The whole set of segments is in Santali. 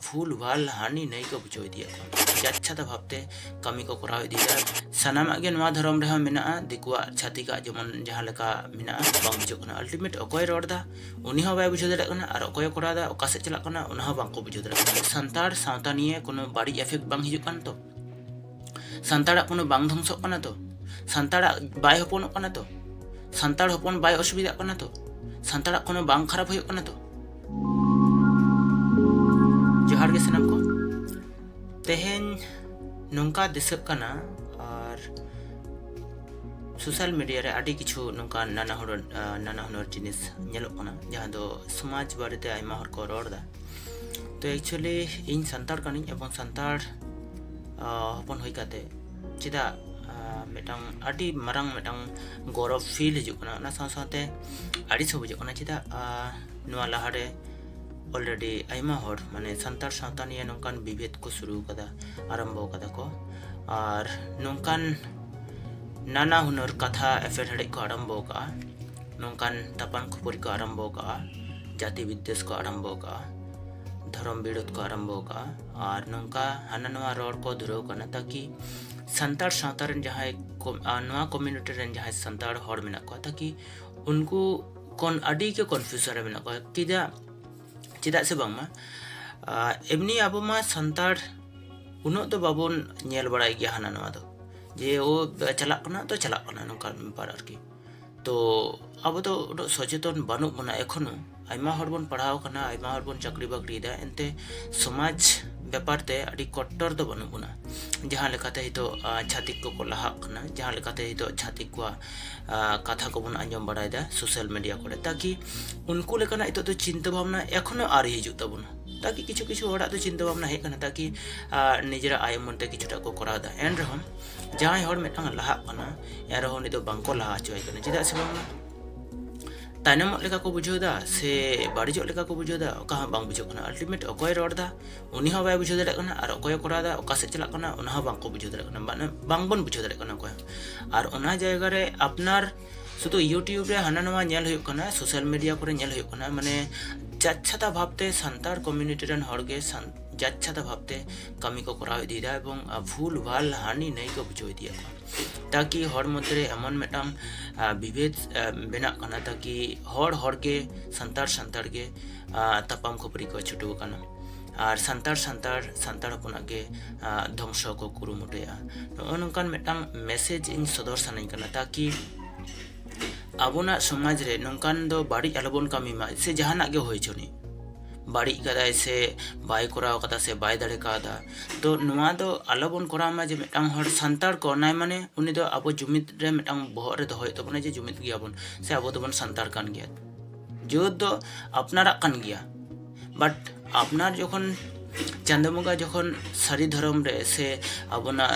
ᱵᱷᱩᱞ ᱵᱷᱟᱞ ᱦᱟᱹᱱᱤ ᱱᱟᱹᱭ ᱠᱚ ᱵᱩᱡᱷᱟᱹᱣ ᱤᱫᱤᱭᱮᱫ ᱠᱚᱣᱟ ᱡᱟᱪᱪᱷᱟᱛᱟ ᱵᱷᱟᱵᱛᱮ ᱠᱟᱹᱢᱤ ᱠᱚ ᱠᱚᱨᱟᱣ ᱤᱫᱤᱭᱮᱫᱟ ᱥᱟᱱᱟᱢᱟᱜ ᱜᱮ ᱱᱚᱣᱟ ᱫᱷᱚᱨᱚᱢ ᱨᱮᱦᱚᱸ ᱢᱮᱱᱟᱜᱼᱟ ᱫᱤᱠᱩᱣᱟᱜ ᱪᱷᱟᱹᱛᱤᱠᱟᱜ ᱡᱮᱢᱚᱱ ᱡᱟᱦᱟᱸ ᱞᱮᱠᱟ ᱢᱮᱱᱟᱜᱼᱟ ᱵᱟᱝ ᱵᱩᱡᱷᱟᱹᱜ ᱠᱟᱱᱟ ᱟᱞᱴᱤᱢᱮᱴ ᱚᱠᱚᱭ ᱨᱚᱲ ᱮᱫᱟ ᱩᱱᱤ ᱦᱚᱸ ᱵᱟᱭ ᱵᱩᱡᱷᱟᱹᱣ ᱫᱟᱲᱮᱭᱟᱜ ᱠᱟᱱᱟ ᱟᱨ ᱚᱠᱚᱭ ᱠᱚᱨᱟᱣ ᱮᱫᱟ ᱚᱠᱟ ᱥᱮᱫ ᱪᱟᱞᱟᱜ ᱠᱟᱱᱟ ᱚᱱᱟ ᱦᱚᱸ ᱵᱟᱝᱠᱚ ᱵᱩᱡᱷᱟᱹᱣ ᱫᱟᱲᱮᱭᱟᱜ ᱠᱟᱱᱟ ᱥᱟᱱᱛᱟᱲ ᱥᱟᱶᱛᱟ ᱱᱤᱭᱮ ᱠᱳᱱᱳ ᱵᱟᱹᱲᱤᱡ ᱮᱯᱷᱮᱠᱴ ᱵᱟᱝ ᱦᱤᱡᱩᱜ ᱠᱟᱱ ᱛᱚ ᱥᱟᱱᱛᱟᱲᱟᱜ ᱠᱳᱱᱳ ᱵᱟᱝ ᱫᱷᱚᱝᱥᱚᱜ ᱠᱟᱱᱟ ᱛᱚ ᱥᱟᱱᱛᱟᱲᱟᱜ ᱵᱟᱭ ᱦᱚᱯᱚᱱᱚᱜ ᱠᱟᱱᱟ ᱛᱚ ᱥᱟᱱᱛᱟᱲ ᱦᱚᱯᱚᱱ ᱵᱟᱭ ᱚᱥᱩᱵᱤᱫᱷᱟᱜ ᱠᱟᱱᱟ ᱛᱚ ᱥᱟᱱᱛᱟᱲᱟᱜ ᱠᱳᱱᱳ ᱵᱟᱝ ᱠᱷᱟᱨᱟᱯ ᱦᱩᱭᱩᱜ ᱠᱟᱱᱟ ᱛᱚ ᱡᱚᱦᱟᱨ ᱜᱮ ᱥᱟᱱᱟᱢ ᱠᱚ ᱛᱮᱦᱮᱧ ᱱᱚᱝᱠᱟ ᱫᱤᱥᱟᱹᱜ ᱠᱟᱱᱟ ᱟᱨ ᱥᱳᱥᱟᱞ ᱢᱤᱰᱤᱭᱟ ᱨᱮ ᱟᱹᱰᱤ ᱠᱤᱪᱷᱩ ᱱᱚᱝᱠᱟ ᱱᱟᱱᱟ ᱦᱩᱱᱟᱹᱨ ᱱᱟᱱᱟ ᱦᱩᱱᱟᱹᱨ ᱡᱤᱱᱤᱥ ᱧᱮᱞᱚᱜ ᱠᱟᱱᱟ ᱡᱟᱦᱟᱸ ᱫᱚ ᱥᱚᱢᱟᱡᱽ ᱵᱟᱨᱮᱛᱮ ᱟᱭᱢᱟ ᱦᱚᱲ ᱠᱚ ᱨᱚᱲ ᱮᱫᱟ ᱛᱚ ᱮᱠᱪᱩᱭᱮᱞᱤ ᱤᱧ ᱥᱟᱱᱛᱟᱲ ᱠᱟᱹᱱᱟᱹᱧ ᱮᱵᱚᱝ ᱥᱟᱱᱛᱟᱲ ᱦᱚᱯᱚᱱ ᱦᱩᱭ ᱠᱟᱛᱮ ᱪᱮᱫᱟᱜ ᱢᱤᱫᱴᱟᱝ ᱟᱹᱰᱤ ᱢᱟᱨᱟᱝ ᱢᱤᱫᱴᱟᱝ ᱜᱚᱨᱚᱵᱽ ᱯᱷᱤᱞ ᱦᱤᱡᱩᱜ ᱠᱟᱱᱟ ᱚᱱᱟ ᱥᱟᱶ ᱥᱟᱶᱛᱮ ᱟᱹᱲᱤᱥ ᱦᱚᱸ ᱵᱩᱡᱷᱟᱹᱜ ᱠᱟᱱᱟ ᱪᱮᱫᱟᱜ ᱱᱚᱣᱟ ᱞᱟᱦᱟᱨᱮ ᱚᱞᱨᱮᱰᱤ ᱟᱭᱢᱟ ᱦᱚᱲ ᱢᱟᱱᱮ ᱥᱟᱱᱛᱟᱲ ᱥᱟᱶᱛᱟ ᱱᱤᱭᱮ ᱱᱚᱝᱠᱟᱱ ᱵᱤᱵᱷᱮᱫ ᱠᱚ ᱥᱩᱨᱩ ᱠᱟᱫᱟ ᱟᱨᱟᱢᱵᱚ ᱠᱟᱫᱟ ᱠᱚ ᱟᱨ ᱱᱚᱝᱠᱟᱱ ᱱᱟᱱᱟ ᱦᱩᱱᱟᱹᱨ ᱠᱟᱛᱷᱟ ᱮᱯᱮᱨ ᱦᱮᱰᱮᱡ ᱠᱚ ᱟᱨᱟᱢᱵᱚ ᱠᱟᱜᱼᱟ ᱱᱚᱝᱠᱟᱱ ᱛᱟᱯᱟᱱ ᱠᱷᱟᱹᱯᱟᱹᱨᱤ ᱠᱚ ᱟᱨᱟᱢᱵᱚ ᱠᱟᱜᱼᱟ ᱡᱟᱹᱛᱤ ᱵᱤᱫᱽᱫᱮᱥ ᱠᱚ ᱟᱨᱟᱢᱵᱚ ᱠᱟᱜᱼᱟ ᱫᱷᱚᱨᱚᱢ ᱵᱤᱨᱳᱫ ᱠᱚ ᱟᱨᱟᱢᱵᱚ ᱠᱟᱜᱼᱟ ᱟᱨ ᱱᱚᱝᱠᱟ ᱦᱟᱱᱟ ᱱᱚᱣᱟ ᱨᱚᱲ ᱠᱚ ᱫᱷᱩᱨᱟᱹᱣ ᱠᱟᱱᱟ ᱛᱟᱠᱤ ᱥᱟᱱᱛᱟᱲ ᱥᱟᱶᱛᱟ ᱨᱮᱱ ᱡᱟᱦᱟᱸᱭ ᱱᱚᱣᱟ ᱠᱚᱢᱤᱭᱩᱱᱤᱴᱤ ᱨᱮᱱ ᱡᱟᱦᱟᱸᱭ ᱥᱟᱱᱛᱟᱲ ᱦᱚᱲ ᱢᱮᱱᱟᱜ ᱠᱚᱣᱟ ᱛᱟᱠᱤ ᱩᱱᱠᱩ ᱠᱚᱱ ᱟᱹᱰᱤ ᱜᱮ ᱠᱚᱱᱯᱷᱤᱭᱩᱡᱚᱱ ᱨᱮ ᱢᱮᱱᱟᱜ ᱠᱚᱣᱟ ᱪᱮᱫᱟᱜ ᱪᱮᱫᱟᱜ ᱥᱮ ᱵᱟᱝᱢᱟ ᱮᱢᱱᱤ ᱟᱵᱚ ᱢᱟ ᱥᱟᱱᱛᱟᱲ ᱩᱱᱟᱹᱜ ᱫᱚ ᱵᱟᱵᱚᱱ ᱧᱮᱞ ᱵᱟᱲᱟᱭ ᱜᱮᱭᱟ ᱦᱟᱱᱟ ᱱᱚᱣᱟ ᱫᱚ ᱡᱮ ᱳ ᱪᱟᱞᱟᱜ ᱠᱟᱱᱟ ᱛᱚ ᱪᱟᱞᱟᱜ ᱠᱟᱱᱟ ᱱᱚᱝᱠᱟᱱ ᱵᱮᱯᱟᱨ ᱟᱨᱠᱤ ᱛᱚ ᱟᱵᱚ ᱫᱚ ᱩᱱᱟᱹᱜ ᱥᱚᱪᱮᱛᱚᱱ ᱵᱟᱹᱱᱩᱜ ᱵᱚᱱᱟ ᱮᱠᱷᱚᱱᱳ ᱟᱭᱢᱟ ᱦᱚᱲ ᱵᱚᱱ ᱯᱟᱲᱦᱟᱣ ᱠᱟᱱᱟ ᱟᱭᱢᱟ ᱦᱚᱲ ᱵᱚᱱ ᱪᱟᱹᱠᱨᱤ ᱵᱟᱹᱠᱨᱤᱭᱮᱫᱟ ᱮᱱᱛᱮ ᱥᱚᱢᱟᱡᱽ ᱵᱮᱯᱟᱨ ᱛᱮ ᱟᱹᱰᱤ ᱠᱚᱴᱴᱚᱨ ᱫᱚ ᱵᱟᱹᱱᱩᱜ ᱵᱚᱱᱟ ᱡᱟᱦᱟᱸ ᱞᱮᱠᱟᱛᱮ ᱱᱤᱛᱚᱜ ᱪᱷᱟᱹᱛᱤᱠ ᱠᱚᱠᱚ ᱞᱟᱦᱟᱜ ᱠᱟᱱᱟ ᱡᱟᱦᱟᱸ ᱞᱮᱠᱟᱛᱮ ᱱᱤᱛᱚᱜ ᱪᱷᱟᱹᱛᱤᱠ ᱠᱚᱣᱟᱜ ᱠᱟᱛᱷᱟ ᱠᱚᱵᱚᱱ ᱟᱸᱡᱚᱢ ᱵᱟᱲᱟᱭᱮᱫᱟ ᱥᱳᱥᱟᱞ ᱢᱤᱰᱤᱭᱟ ᱠᱚᱨᱮ ᱛᱟᱠᱤ ᱩᱱᱠᱩ ᱞᱮᱠᱟᱱᱟᱜ ᱱᱤᱛᱚᱜ ᱫᱚ ᱪᱤᱱᱛᱟᱹ ᱵᱷᱟᱵᱽᱱᱟ ᱮᱠᱷᱚᱱᱳ ᱟᱹᱣᱨᱤ ᱦᱤᱡᱩᱜ ᱛᱟᱵᱚᱱᱟ ᱛᱟᱠᱤ ᱠᱤᱪᱷᱩ ᱠᱤᱪᱷᱩ ᱦᱚᱲᱟᱜ ᱫᱚ ᱪᱤᱱᱛᱟᱹ ᱵᱷᱟᱵᱽᱱᱟ ᱦᱮᱡ ᱠᱟᱱᱟ ᱛᱟᱠᱤ ᱱᱤᱡᱮᱨᱟᱜ ᱟᱭ ᱩᱢᱟᱹᱱ ᱛᱮ ᱠᱤᱪᱷᱩᱴᱟ ᱠᱚ ᱠᱚᱨᱟᱣᱮᱫᱟ ᱮᱱ ᱨᱮᱦᱚᱸ ᱡᱟᱦᱟᱸᱭ ᱦᱚᱲ ᱢᱤᱫᱴᱟᱝ ᱞᱟᱦᱟᱜ ᱠᱟᱱᱟ ᱮᱱᱨᱮᱦᱚᱸ ᱩᱱᱤ ᱫᱚ ᱵᱟᱝᱠᱚ ᱞᱟᱦᱟ ᱦᱚᱪᱚᱭᱮ ᱠᱟᱱᱟ ᱪᱮᱫᱟᱜ ᱥᱮ ᱵᱟᱝ ᱛᱟᱭᱱᱚᱢᱚᱜ ᱞᱮᱠᱟ ᱠᱚ ᱵᱩᱡᱷᱟᱹᱣ ᱮᱫᱟ ᱥᱮ ᱵᱟᱹᱲᱤᱡᱚᱜ ᱞᱮᱠᱟ ᱠᱚ ᱵᱩᱡᱷᱟᱹᱣ ᱮᱫᱟ ᱚᱠᱟ ᱦᱚᱸ ᱵᱟᱝ ᱵᱩᱡᱷᱟᱹᱜ ᱠᱟᱱᱟ ᱟᱞᱴᱤᱢᱮᱴ ᱚᱠᱚᱭ ᱨᱚᱲ ᱮᱫᱟ ᱩᱱᱤ ᱦᱚᱸ ᱵᱟᱭ ᱵᱩᱡᱷᱟᱹᱣ ᱫᱟᱲᱮᱭᱟᱜ ᱠᱟᱱᱟ ᱟᱨ ᱚᱠᱚᱭ ᱠᱚᱨᱟᱣ ᱮᱫᱟ ᱚᱠᱟ ᱥᱮᱫ ᱪᱟᱞᱟᱜ ᱠᱟᱱᱟ ᱚᱱᱟ ᱦᱚᱸ ᱵᱟᱝᱠᱚ ᱵᱩᱡᱷᱟᱹᱣ ᱫᱟᱲᱮᱭᱟᱜ ᱠᱟᱱᱟ ᱢᱟᱱᱮ ᱵᱟᱝᱵᱚᱱ ᱵᱩᱡᱷᱟᱹᱣ ᱫᱟᱲᱮᱭᱟᱜ ᱠᱟᱱᱟ ᱚᱠᱚᱭ ᱦᱚᱸ ᱟᱨ ᱚᱱᱟ ᱡᱟᱭᱜᱟ ᱨᱮ ᱟᱯᱱᱟᱨ ᱥᱩᱫᱷᱩ ᱤᱭᱩᱴᱤᱭᱩᱵᱽ ᱨᱮ ᱦᱟᱱᱟ ᱱᱚᱣᱟ ᱧᱮᱞ ᱦᱩᱭᱩᱜ ᱠᱟᱱᱟ ᱥᱳᱥᱟᱞ ᱢᱤᱰᱤᱭᱟ ᱠᱚᱨᱮ ᱧᱮᱞ ᱦᱩᱭᱩᱜ ᱠᱟᱱᱟ ᱢᱟᱱᱮ ᱡᱟᱪᱪᱷᱟᱛᱟ ᱵᱷᱟᱵᱽᱛᱮ ᱥᱟᱱᱛᱟᱲ ᱠᱚᱢᱤᱭᱩᱱᱤᱴᱤ ᱨᱮᱱ ᱦᱚᱲᱜᱮ ᱡᱟᱪᱪᱷᱟᱛᱟ ᱵᱷᱟᱵᱽᱛᱮ ᱠᱟᱹᱢᱤ ᱠᱚ ᱠᱚᱨᱟᱣ ᱤᱫᱤᱭᱮᱫᱟ ᱮᱵᱚᱝ ᱵᱷᱩᱞ ᱵᱷᱟᱞ ᱦᱟᱹᱱᱤ ᱱᱟᱹᱭ ᱠᱚ ᱵᱩᱡᱷᱟᱹᱣ ᱤᱫᱤᱭᱮᱫ ᱠᱚᱣᱟ ᱛᱟᱠᱤ ᱦᱚᱲ ᱢᱚᱫᱽᱫᱷᱮᱨᱮ ᱮᱢᱚᱱ ᱢᱤᱫᱴᱟᱝ ᱵᱤᱵᱷᱮᱫ ᱵᱮᱱᱟᱜ ᱠᱟᱱᱟ ᱛᱟᱠᱤ ᱦᱚᱲ ᱦᱚᱲᱜᱮ ᱥᱟᱱᱛᱟᱲ ᱥᱟᱱᱛᱟᱲ ᱜᱮ ᱛᱟᱯᱟᱢ ᱠᱷᱟᱹᱯᱟᱹᱨᱤ ᱠᱚ ᱪᱷᱩᱴᱟᱹᱣ ᱟᱠᱟᱱᱟ ᱟᱨ ᱥᱟᱱᱛᱟᱲ ᱥᱟᱱᱛᱟᱲ ᱥᱟᱱᱛᱟᱲ ᱦᱚᱯᱚᱱᱟᱜ ᱜᱮ ᱫᱷᱚᱝᱥᱚ ᱠᱚ ᱠᱩᱨᱩᱢᱩᱴᱩᱭᱟ ᱱᱚᱜᱼᱚ ᱱᱚᱝᱠᱟᱱ ᱢᱤᱫᱴᱟᱝ ᱢᱮᱥᱮᱡᱽ ᱤᱧ ᱥᱚᱫᱚᱨ ᱥᱟᱱᱟᱧ ᱠᱟᱱᱟ ᱛᱟᱠᱤ ᱟᱵᱚᱱᱟᱜ ᱥᱚᱢᱟᱡᱽ ᱨᱮ ᱱᱚᱝᱠᱟᱱ ᱫᱚ ᱵᱟᱹᱲᱤᱡ ᱟᱞᱚᱵᱚᱱ ᱠᱟᱹᱢᱤ ᱢᱟ ᱥᱮ ᱡᱟᱦᱟᱱᱟᱜ ᱜᱮ ᱦᱩᱭ ᱦᱚᱪᱚᱱᱤᱡ ᱵᱟᱹᱲᱤᱡ ᱠᱟᱫᱟᱭ ᱥᱮ ᱵᱟᱭ ᱠᱚᱨᱟᱣ ᱠᱟᱫᱟ ᱥᱮ ᱵᱟᱭ ᱫᱟᱲᱮ ᱠᱟᱣᱫᱟ ᱛᱚ ᱱᱚᱣᱟ ᱫᱚ ᱟᱞᱚ ᱵᱚᱱ ᱠᱚᱨᱟᱣ ᱢᱟ ᱡᱮ ᱢᱤᱫᱴᱟᱝ ᱦᱚᱲ ᱥᱟᱱᱛᱟᱲ ᱠᱟᱱᱟᱭ ᱢᱟᱱᱮ ᱩᱱᱤ ᱫᱚ ᱟᱵᱚ ᱡᱩᱢᱤᱫ ᱨᱮ ᱢᱤᱫᱴᱟᱝ ᱵᱚᱦᱚᱜ ᱨᱮ ᱫᱚᱦᱚᱭ ᱦᱩᱭᱩᱜ ᱛᱟᱵᱚᱱᱟ ᱡᱮ ᱡᱩᱢᱤᱫ ᱜᱮᱭᱟᱵᱚᱱ ᱥᱮ ᱟᱵᱚ ᱫᱚᱵᱚᱱ ᱥᱟᱱᱛᱟᱲ ᱠᱟᱱ ᱜᱮᱭᱟ ᱡᱩᱢᱤᱫ ᱫᱚ ᱟᱯᱱᱟᱨᱟᱜ ᱠᱟᱱ ᱜᱮᱭᱟ ᱵᱟᱴ ᱟᱯᱱᱟᱨ ᱡᱚᱠᱷᱚᱱ ᱪᱟᱸᱫᱚ ᱵᱚᱸᱜᱟ ᱡᱚᱠᱷᱚᱱ ᱥᱟᱹᱨᱤ ᱫᱷᱚᱨᱚᱢ ᱨᱮ ᱥᱮ ᱟᱵᱚᱱᱟᱜ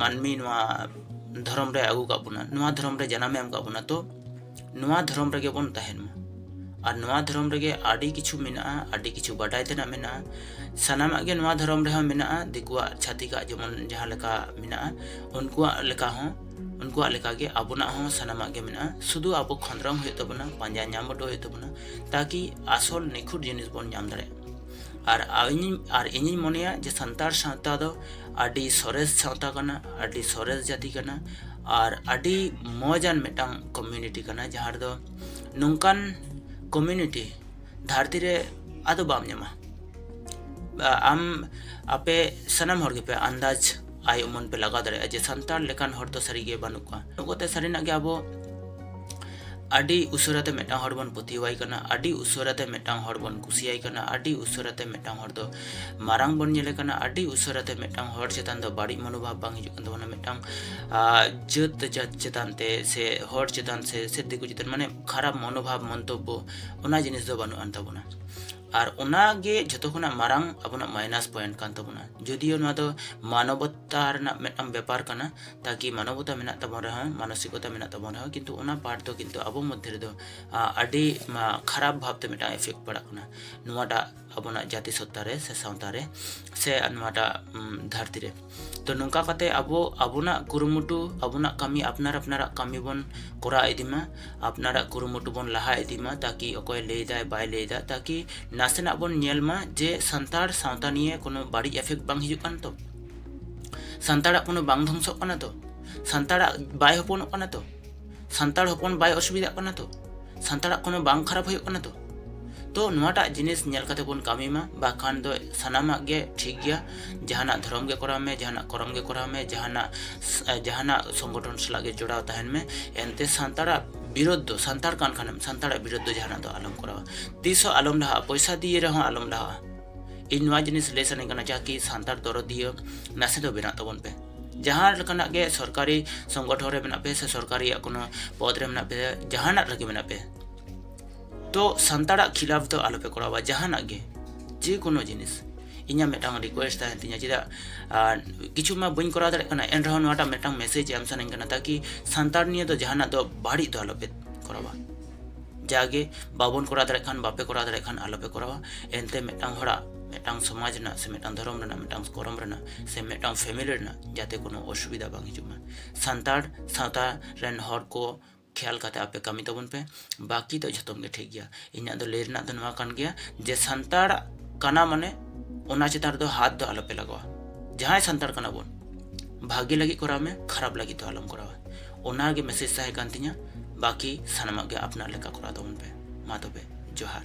ᱢᱟᱹᱱᱢᱤ ᱱᱚᱣᱟ ᱫᱷᱚᱨᱚᱢ ᱨᱮ ᱟᱹᱜᱩ ᱠᱟᱜ ᱵᱚᱱᱟ ᱱᱚᱣᱟ ᱫᱷᱚᱨᱚᱢ ᱨᱮ ᱡᱟᱱᱟᱢᱮ ᱮᱢ ᱠᱟᱜ ᱵᱚᱱᱟ ᱛᱚ ᱱᱚᱣᱟ ᱫᱷᱚᱨᱚᱢ ᱨᱮᱜᱮ ᱵᱚᱱ ᱛᱟᱦᱮᱱ ᱢᱟ ᱟᱨ ᱱᱚᱣᱟ ᱫᱷᱚᱨᱚᱢ ᱨᱮᱜᱮ ᱟᱹᱰᱤ ᱠᱤᱪᱷᱩ ᱢᱮᱱᱟᱜᱼᱟ ᱟᱹᱰᱤ ᱠᱤᱪᱷᱩ ᱵᱟᱰᱟᱭ ᱛᱮᱱᱟᱜ ᱢᱮᱱᱟᱜᱼᱟ ᱥᱟᱱᱟᱢᱟᱜ ᱜᱮ ᱱᱚᱣᱟ ᱫᱷᱚᱨᱚᱢ ᱨᱮᱦᱚᱸ ᱢᱮᱱᱟᱜᱼᱟ ᱫᱤᱠᱩᱣᱟᱜ ᱪᱷᱟᱹᱛᱤᱠᱟᱜ ᱡᱮᱢᱚᱱ ᱡᱟᱦᱟᱸ ᱞᱮᱠᱟ ᱢᱮᱱᱟᱜᱼᱟ ᱩᱱᱠᱩᱣᱟᱜ ᱞᱮᱠᱟ ᱦᱚᱸ ᱩᱱᱠᱩᱣᱟᱜ ᱞᱮᱠᱟᱜᱮ ᱟᱵᱚᱱᱟᱜ ᱦᱚᱸ ᱥᱟᱱᱟᱢᱟᱜ ᱜᱮ ᱢᱮᱱᱟᱜᱼᱟ ᱥᱩᱫᱷᱩ ᱟᱵᱚ ᱠᱷᱚᱸᱫᱽᱨᱚᱱ ᱦᱩᱭᱩᱜ ᱛᱟᱵᱚᱱᱟ ᱯᱟᱸᱡᱟ ᱧᱟᱢ ᱦᱚᱴᱚ ᱦᱩᱭᱩᱜ ᱛᱟᱵᱚᱱᱟ ᱛᱟᱠᱤ ᱟᱥᱚᱞ ᱱᱤᱠᱷᱩᱴ ᱡᱤᱱᱤᱥ ᱵᱚᱱ ᱧᱟᱢ ᱫᱟᱲᱮᱭᱟᱜ ᱟᱨ ᱤᱧᱤᱧ ᱟᱨ ᱤᱧᱤᱧ ᱢᱚᱱᱮᱭᱟ ᱡᱮ ᱥᱟᱱᱛᱟᱲ ᱥᱟᱶᱛᱟ ᱫᱚ ᱟᱹᱰᱤ ᱥᱚᱨᱮᱥ ᱥᱟᱶᱛᱟ ᱠᱟᱱᱟ ᱟᱹᱰᱤ ᱥᱚᱨᱮᱥ ᱡᱟᱹᱛᱤ ᱠᱟᱱᱟ ᱟᱨ ᱟᱹᱰᱤ ᱢᱚᱡᱟᱱ ᱢᱤᱫᱴᱟᱝ ᱠᱚᱢᱤᱭᱩᱱᱤᱴᱤ ᱠᱟᱱᱟ ᱡᱟᱦᱟᱸ ᱨᱮᱫᱚ ᱱᱚᱝᱠᱟᱱ ᱠᱚᱢᱤᱭᱩᱱᱤᱴᱤ ᱫᱷᱟᱹᱨᱛᱤ ᱨᱮ ᱟᱫᱚ ᱵᱟᱢ ᱧᱟᱢᱟ ᱟᱢ ᱟᱯᱮ ᱥᱟᱱᱟᱢ ᱦᱚᱲ ᱜᱮᱯᱮ ᱟᱱᱫᱟᱡᱽ ᱟᱭ ᱩᱢᱟᱹᱱ ᱯᱮ ᱞᱟᱜᱟᱣ ᱫᱟᱲᱮᱭᱟᱜᱼᱟ ᱡᱮ ᱥᱟᱱᱛᱟᱲ ᱞᱮᱠᱟᱱ ᱦᱚᱲ ᱫᱚ ᱥᱟᱹᱨᱤᱜᱮ ᱵᱟᱹᱱᱩᱜ ᱠᱚᱣᱟ ᱱᱚᱜᱚᱛᱮ ᱥᱟᱹᱨᱤᱱᱟᱜ ᱜᱮ ᱟᱵᱚ ᱟᱹᱰᱤ ᱩᱥᱟᱹᱨᱟᱛᱮ ᱢᱤᱫᱴᱟᱝ ᱦᱚᱲ ᱵᱚᱱ ᱯᱟᱹᱛᱭᱟᱹᱣᱟᱭ ᱠᱟᱱᱟ ᱟᱹᱰᱤ ᱩᱥᱟᱹᱨᱟᱛᱮ ᱢᱤᱫᱴᱟᱝ ᱦᱚᱲ ᱵᱚᱱ ᱠᱩᱥᱤᱭᱟᱭ ᱠᱟᱱᱟ ᱟᱹᱰᱤ ᱩᱥᱟᱹᱨᱟᱛᱮ ᱢᱤᱫᱴᱟᱝ ᱦᱚᱲ ᱫᱚ ᱢᱟᱨᱟᱝ ᱵᱚᱱ ᱧᱮᱞᱮ ᱠᱟᱱᱟ ᱟᱹᱰᱤ ᱩᱥᱟᱹᱨᱟᱛᱮ ᱢᱤᱫᱴᱟᱝ ᱦᱚᱲ ᱪᱮᱛᱟᱱ ᱫᱚ ᱵᱟᱹᱲᱤᱡ ᱢᱚᱱᱳᱵᱷᱟᱵ ᱵᱟᱝ ᱦᱤᱡᱩᱜ ᱠᱟᱱ ᱛᱟᱵᱚᱱᱟ ᱢᱤᱫᱴᱟᱝ ᱡᱟᱹᱛ ᱡᱟᱹᱛ ᱪᱮᱛᱟᱱ ᱛᱮ ᱥᱮ ᱦᱚᱲ ᱪᱮᱛᱟᱱ ᱥᱮ ᱥᱮ ᱫᱤᱠᱩ ᱪᱮᱛᱟᱱ ᱢᱟᱱᱮ ᱠᱷᱟᱨᱟᱯ ᱢᱚᱱᱳᱵᱷᱟᱵ ᱢᱚᱱᱛᱚᱵᱵᱚ ᱚᱱᱟ ᱡᱤᱱᱤᱥ ᱫᱚ ᱵᱟᱹᱱᱩᱜ ᱟᱱ ᱛᱟᱵᱚᱱᱟ ᱟᱨ ᱚᱱᱟ ᱜᱮ ᱡᱷᱚᱛᱚ ᱠᱷᱚᱱᱟᱜ ᱢᱟᱨᱟᱝ ᱟᱵᱚᱱᱟᱜ ᱢᱟᱭᱱᱟᱥ ᱯᱚᱭᱮᱱᱴ ᱠᱟᱱ ᱛᱟᱵᱚᱱᱟ ᱡᱚᱫᱤᱭᱳ ᱱᱚᱣᱟ ᱫᱚ ᱢᱟᱱᱚᱵᱚᱛᱟ ᱨᱮᱱᱟᱜ ᱢᱤᱫᱴᱟᱝ ᱵᱮᱯᱟᱨ ᱠᱟᱱᱟ ᱛᱟᱠᱤ ᱢᱟᱱᱚᱵᱚᱛᱟ ᱢᱮᱱᱟᱜ ᱛᱟᱵᱚᱱ ᱨᱮᱦᱚᱸ ᱢᱟᱱᱚᱥᱤᱠᱚᱛᱟ ᱢᱮᱱᱟᱜ ᱛᱟᱵᱚᱱ ᱨᱮᱦᱚᱸ ᱠᱤᱱᱛᱩ ᱚᱱᱟ ᱯᱟᱨᱴ ᱫᱚ ᱠᱤᱱᱛᱩ ᱟᱵᱚ ᱢᱚᱫᱽᱫᱷᱮ ᱨᱮᱫᱚ ᱟᱹᱰᱤ ᱠᱷᱟᱨᱟᱯ ᱵᱷᱟᱵᱛᱮ ᱢᱤᱫᱴᱟᱝ ᱮᱯᱷᱮᱠᱴ ᱯᱟᱲᱟᱜ ᱠᱟᱱᱟ ᱱᱚᱣᱟᱴᱟᱜ ᱟᱵᱚᱱᱟᱜ ᱡᱟᱹᱛᱤ ᱥᱚᱛᱛᱟ ᱨᱮ ᱥᱮ ᱥᱟᱶᱛᱟ ᱨᱮ ᱥᱮ ᱱᱚᱣᱟᱴᱟᱜ ᱫᱷᱟᱹᱨᱛᱤ ᱨᱮ ᱛᱚ ᱱᱚᱝᱠᱟ ᱠᱟᱛᱮ ᱟᱵᱚ ᱟᱵᱚᱱᱟᱜ ᱠᱩᱨᱩᱢᱩᱴᱩ ᱟᱵᱚᱱᱟᱜ ᱠᱟᱹᱢᱤ ᱟᱯᱱᱟᱨ ᱟᱯᱱᱟᱨᱟᱜ ᱠᱟᱹᱢᱤ ᱵᱚᱱ ᱠᱚᱨᱟᱣ ᱤᱫᱤ ᱢᱟ ᱟᱯᱱᱟᱨᱟᱜ ᱠᱩᱨᱩᱢᱩᱴᱩ ᱵᱚᱱ ᱞᱟᱦᱟ ᱤᱫᱤ ᱢᱟ ᱛᱟᱠᱤ ᱚᱠᱚᱭ ᱞᱟᱹᱭ ᱫᱟᱭ ᱵᱟᱭ ᱞᱟᱹᱭ ᱫᱟ ᱛᱟᱠᱤ ᱱᱟᱥᱮᱱᱟᱜ ᱵᱚᱱ ᱧᱮᱞ ᱢᱟ ᱡᱮ ᱥᱟᱱᱛᱟᱲ ᱥᱟᱶᱛᱟ ᱱᱤᱭᱮ ᱠᱳᱱᱳ ᱵᱟᱹᱲᱤᱡ ᱮᱯᱷᱮᱠᱴ ᱵᱟᱝ ᱦᱤᱡᱩᱜ ᱠᱟᱱ ᱛᱚ ᱥᱟᱱᱛᱟᱲᱟᱜ ᱠᱳᱱᱳ ᱵᱟᱝ ᱫᱷᱚᱝᱥᱚᱜ ᱠᱟᱱᱟ ᱛᱚ ᱥᱟᱱᱛᱟᱲᱟᱜ ᱵᱟᱭ ᱦᱚᱯᱚᱱᱚᱜ ᱠᱟᱱᱟ ᱛᱚ ᱥᱟᱱᱛᱟᱲ ᱦᱚᱯᱚᱱ ᱵᱟᱭ ᱚᱥᱩᱵᱤᱫᱷᱟᱜ ᱠᱟᱱᱟ ᱛᱚ ᱥᱟᱱᱛᱟᱲᱟᱜ ᱠᱳᱱᱳ ᱵᱟᱝ ᱠᱷᱟᱨᱟᱯ ᱦᱩᱭᱩᱜ ᱠᱟᱱᱟ ᱛᱚ ᱛᱚ ᱱᱚᱣᱟᱴᱟᱜ ᱡᱤᱱᱤᱥ ᱧᱮᱞ ᱠᱟᱛᱮ ᱵᱚᱱ ᱠᱟᱹᱢᱤ ᱢᱟ ᱵᱟᱠᱷᱟᱱ ᱫᱚ ᱥᱟᱱᱟᱢᱟᱜ ᱜᱮ ᱴᱷᱤᱠ ᱜᱮᱭᱟ ᱡᱟᱦᱟᱱᱟᱜ ᱫᱷᱚᱨᱚᱢ ᱜᱮ ᱠᱚᱨᱟᱣ ᱢᱮ ᱡᱟᱦᱟᱱᱟᱜ ᱠᱚᱨᱚᱢ ᱜᱮ ᱠᱚᱨᱟᱣ ᱢᱮ ᱡᱟᱦᱟᱱᱟᱜ ᱡᱟᱦᱟᱱᱟᱜ ᱥᱚᱝᱜᱚᱴᱷᱚᱱ ᱥᱟᱞᱟᱜ ᱜᱮ ᱡᱚᱲᱟᱣ ᱛᱟᱦᱮᱱ ᱢᱮ ᱮᱱᱛᱮ ᱥᱟᱱᱛᱟᱲᱟᱜ ᱵᱤᱨᱳᱫᱷ ᱫᱚ ᱥᱟᱱᱛᱟᱲ ᱠᱟᱱ ᱠᱷᱟᱱᱮᱢ ᱥᱟᱱᱛᱟᱲᱟᱜ ᱵᱤᱨᱳᱫᱷ ᱫᱚ ᱡᱟᱦᱟᱱᱟᱜ ᱫᱚ ᱟᱞᱚᱢ ᱠᱚᱨᱟᱣᱟ ᱛᱤᱥ ᱦᱚᱸ ᱟᱞᱚᱢ ᱞᱟᱦᱟᱜᱼᱟ ᱯᱚᱭᱥᱟ ᱫᱤᱭᱮ ᱨᱮᱦᱚᱸ ᱟᱞᱚᱢ ᱞᱟᱦᱟᱜᱼᱟ ᱤᱧ ᱱᱚᱣᱟ ᱡᱤᱱᱤᱥ ᱞᱟᱹᱭ ᱥᱟᱱᱟᱧ ᱠᱟᱱᱟ ᱡᱟᱦᱟᱸ ᱠᱤ ᱥᱟᱱᱛᱟᱲ ᱫᱚᱨᱚᱫᱤᱭᱟᱹ ᱱᱟᱥᱮ ᱫᱚ ᱵᱮᱱᱟᱜ ᱛᱟᱵᱚᱱ ᱯᱮ ᱡᱟᱦᱟᱸ ᱞᱮᱠᱟᱱᱟᱜ ᱜᱮ ᱥᱚᱨᱠᱟᱨᱤ ᱥᱚᱝᱜᱚᱴᱷᱚᱱ ᱨᱮ ᱢᱮᱱᱟᱜ ᱯᱮ ᱥᱮ ᱥᱚᱨᱠᱟᱨᱤᱭᱟᱜ ᱠᱳᱱᱳ ᱯᱚᱫᱽ ᱨᱮ ᱢᱮᱱᱟᱜ ᱯᱮ ᱡᱟᱦᱟᱱᱟᱜ ᱨᱮᱜᱮ ᱢᱮᱱᱟᱜ ᱯᱮ ᱛᱚ ᱥᱟᱱᱛᱟᱲᱟᱜ ᱠᱷᱤᱞᱟᱯ ᱫᱚ ᱟᱞᱚᱯᱮ ᱠᱚᱨᱟᱣᱟ ᱡᱟᱦᱟᱱᱟᱜ ᱜᱮ ᱡᱮ ᱠᱳᱱᱳ ᱡᱤᱱᱤᱥ ᱤᱧᱟᱹᱜ ᱢᱤᱫᱴᱟᱝ ᱨᱤᱠᱩᱭᱮᱥᱴ ᱛᱟᱦᱮᱱ ᱛᱤᱧᱟ ᱪᱮᱫᱟᱜ ᱠᱤᱪᱷᱩ ᱢᱟ ᱵᱟᱹᱧ ᱠᱚᱨᱟᱣ ᱫᱟᱲᱮᱭᱟᱜ ᱠᱟᱱᱟ ᱮᱱ ᱨᱮᱦᱚᱸ ᱱᱚᱣᱟᱴᱟᱜ ᱢᱤᱫᱴᱟᱝ ᱢᱮᱥᱮᱡᱽ ᱮᱢ ᱥᱟᱱᱟᱧ ᱠᱟᱱᱟ ᱛᱟᱠᱤ ᱥᱟᱱᱛᱟᱲ ᱱᱤᱭᱮ ᱫᱚ ᱡᱟᱦᱟᱱᱟᱜ ᱫᱚ ᱵᱟᱹᱲᱤᱡ ᱫᱚ ᱟᱞᱚᱯᱮ ᱠᱚᱨᱟᱣᱟ ᱡᱟᱜᱮ ᱵᱟᱵᱚᱱ ᱠᱚᱨᱟᱣ ᱫᱟᱲᱮᱭᱟᱜ ᱠᱷᱟᱱ ᱵᱟᱯᱮ ᱠᱚᱨᱟᱣ ᱫᱟᱲᱮᱭᱟᱜ ᱠᱷᱟᱱ ᱟᱞᱚᱯᱮ ᱠᱚᱨᱟᱣᱟ ᱮᱱᱛᱮ ᱢᱤᱫᱴᱟᱝ ᱦᱚᱲᱟᱜ ᱢᱤᱫᱴᱟᱝ ᱥᱚᱢᱟᱡᱽ ᱨᱮᱱᱟᱜ ᱥᱮ ᱢᱤᱫᱴᱟᱝ ᱫᱷᱚᱨᱚᱢ ᱨᱮᱱᱟᱜ ᱢᱤᱫᱴᱟᱝ ᱠᱚᱨᱚᱢ ᱨᱮᱱᱟᱜ ᱥᱮ ᱢᱤᱫᱴᱟᱝ ᱯᱷᱮᱢᱮᱞᱤ ᱨᱮᱱᱟᱜ ᱡᱟᱛᱮ ᱠᱳᱱᱳ ᱚᱥᱩᱵᱤᱫᱷᱟ ᱵᱟᱝ ᱦᱤᱡᱩᱜ ᱢᱟ ᱥᱟᱱᱛᱟᱲ ᱥᱟᱶᱛᱟ ᱨᱮᱱ ᱦᱚᱲ ᱠᱚ ᱠᱷᱮᱭᱟᱞ ᱠᱟᱛᱮ ᱟᱯᱮ ᱠᱟᱹᱢᱤ ᱛᱟᱵᱚᱱ ᱯᱮ ᱵᱟᱹᱠᱤ ᱫᱚ ᱡᱷᱚᱛᱚᱢ ᱜᱮ ᱴᱷᱤᱠ ᱜᱮᱭᱟ ᱤᱧᱟᱹᱜ ᱫᱚ ᱞᱟᱹᱭ ᱨᱮᱱᱟᱜ ᱫᱚ ᱱᱚᱣᱟ ᱠᱟᱱ ᱜᱮᱭᱟ ᱡᱮ ᱥᱟᱱᱛᱟᱲ ᱠᱟᱱᱟ ᱢᱟᱱᱮ ᱚᱱᱟ ᱪᱮᱛᱟᱱ ᱨᱮᱫᱚ ᱦᱟᱛ ᱫᱚ ᱟᱞᱚᱯᱮ ᱞᱟᱜᱟᱣᱟ ᱡᱟᱦᱟᱸᱭ ᱥᱟᱱᱛᱟᱲ ᱠᱟᱱᱟ ᱵᱚᱱ ᱵᱷᱟᱜᱮ ᱞᱟᱹᱜᱤᱫ ᱠᱚᱨᱟᱣ ᱢᱮ ᱠᱷᱟᱨᱟᱯ ᱞᱟᱹᱜᱤᱫ ᱫᱚ ᱟᱞᱚᱢ ᱠᱚᱨᱟᱣᱟ ᱚᱱᱟᱜᱮ ᱢᱮᱥᱮᱡᱽ ᱛᱟᱦᱮᱸ ᱠᱟᱱ ᱛᱤᱧᱟᱹ ᱵᱟᱹᱠᱤ ᱥᱟᱱᱟᱢᱟᱜ ᱜᱮ ᱟᱯᱱᱟᱨ ᱞᱮᱠᱟ ᱠᱚᱨᱟᱣ ᱛᱟᱵᱚᱱ ᱯᱮ ᱢᱟ ᱛᱚᱵᱮ ᱡᱚᱦᱟᱨ